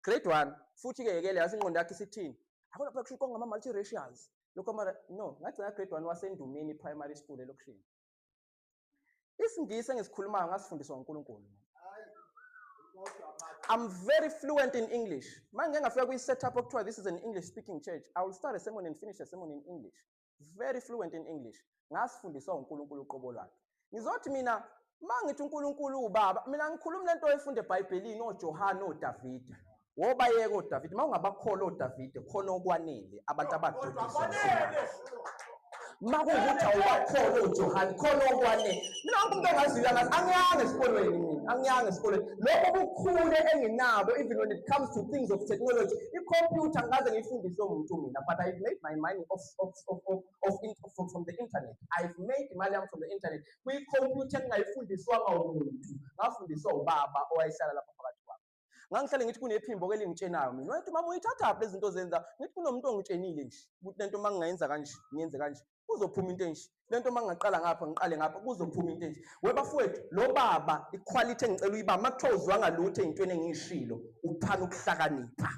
grade 1 futhi ke yekele yazi ingqondo yakhe isithini akona phela kusho konga ama multiracials lokho mara no ngagcina grade 1 wasendumeni primary school elokishini isingisi engisikhulumayo ngasifundiswa uNkulunkulu I'm very fluent in English. Mangengafika kwi setup okuthiwa this is an English speaking church. I will start a sermon and finish a sermon in English. very fluent in English ngasifundiswa uNkulunkulu uqobo lwakhe ngizothi mina mangithi uNkulunkulu ubaba mina ngikhuluma lento oyifunde eBhayibhelini oJohane oDavide wobayeka oDavide mawungabakhola oDavide khona okwanele abantu abadukisa makuwukuthi awubakhola oJohane khona okwanele mina wonke umuntu ongaziyo angiyange esikolweni mina angiyange esikolweni lokho kukhule enginabo even when it comes to things of technology i-computer ngikaze ngiyifundiswe umuntu mina but i've made my money off, off, off, off, off in, from, from the internet i've made imali yami from the internet kwi-computer engingayifundiswanga umuntu ngafundiswa ubaba owayehlala lapha phakathi kwami ngangihlale ngithi kunephimbo ke lingitshenayo mina wayethi mama uyithathaphi lezi zinto zenza ngithi kunomuntu ongitshenile nje ukuthi lento uma ngingayenza kanje ngiyenze kanje kuzophuma into enje lento uma ngingaqala ngapha ngiqale ngapha kuzophuma into enje webafowethu lo baba iquality engicela uyiba uma kuthiwa uzwanga lutho ey'ntweni engiyishilo uphana ukuhlakanipha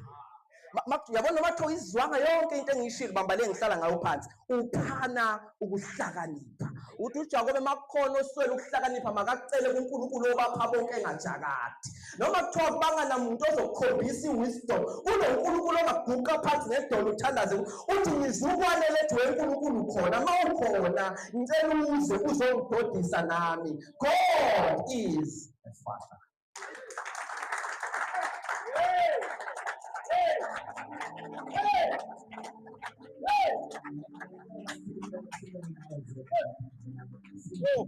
yabona noma kuthiwa izwanga yonke into engiyishilo bamba le ngihlala ngayo phansi uphana ukuhlakanipha ukuthi ujakobe uma kukhona oswele ukuhlakanipha makakucele kunkulunkulu obapha bonke engajakadi noma kuthiwa banganamuntu ozokukhombisa i-wisdom unonkulunkulu ongaguqa phansi ngedolo uthandaze uthi ngizukwane lethu wenkulunkulu khona ma ukhona ngicela uze uzongidodisa nami god is a father Oh.